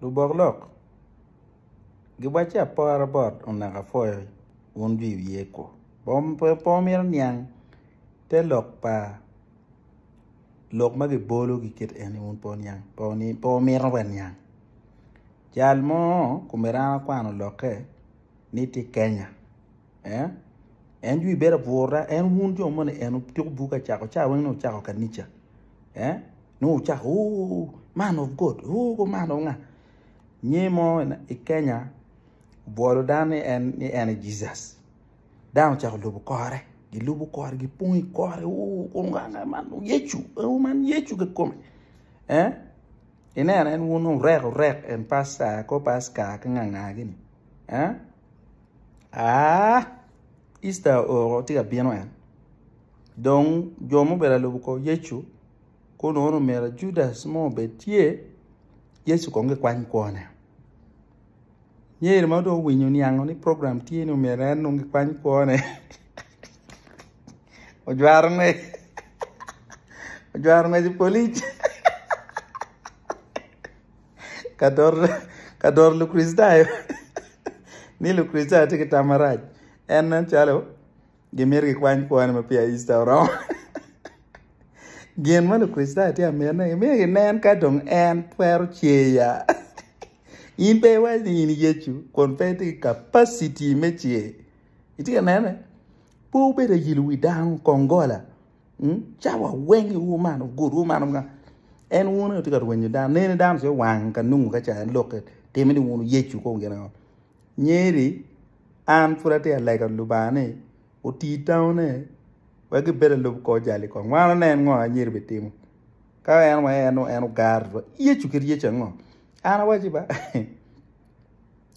Lubok lok giwacci apora bot onaka pwoyo wun jwi wiye kwo. Po mito niang te lok pa lok ma gibolo gikit en ni wun po niang po mito wa niang. Jal mo komiti an akwano lokke ni tye Kenya en jwi bedo abwura en wun jo moni en tuko buk acako ca weng ni wucako kanica. nongo wucako ooh man of God ooh man of nga nyi mo i Kenya obwolo dano ni en ni en aye Jesus dano ocako lubo kore gilubo kore gipong i kore ooh kong nga nga man dong Yecu ooh man Yecu kikome eh ineno en wun dong orek orek en pasta kor pasta ki nga nga gini eh aa Easter oo tye ka bino en dong jo ma obedo ka lubo kor Yecu Kor lwongo ni omyero Judas mo obed tye, Yecu kong gikwany kwone. Nyer ma dong owinyo niango ni program tye ni omyero en dong gikwany kwone. Ojwaro ngec. Ojwaro ngec polic. Ka doro Lukricitayo ni Lukricitayo tye ki tam marac. En nen calo. Gimito gikwany kwone ma peya Easter oromo. Gin ma Lukricitayo tye ka mitine, gimito ginen ka dong en twero cer ya. In pe iwaco ni in i Yecu kun pe itye ki kapaciti me cer. Itye ka nene? Pe wubed ayilo wi dano, kongola. Hmm? Cawa weng iwu man, ogudwu man onga. En wuno tye ka rwenyo dano. Nene dano ce wang ka nungo ka ca en lokke. Time ni wuno Yecu kong gin ango. nyeri an pud atye ka lego Lubanga ni oti tamone wek gibed alub kor jal i kom wan wanen ngo ma anyira bitimo ka en wa en en ogara wa Yecu kit Yecu ango an awaci ba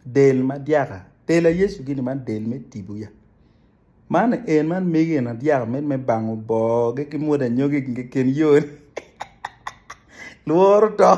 del ma dyaka del aye Yecu gini man del me tibu ya man en man mege en adyaka med me bango bor gi ki mwod anyogi keken yoni lworo to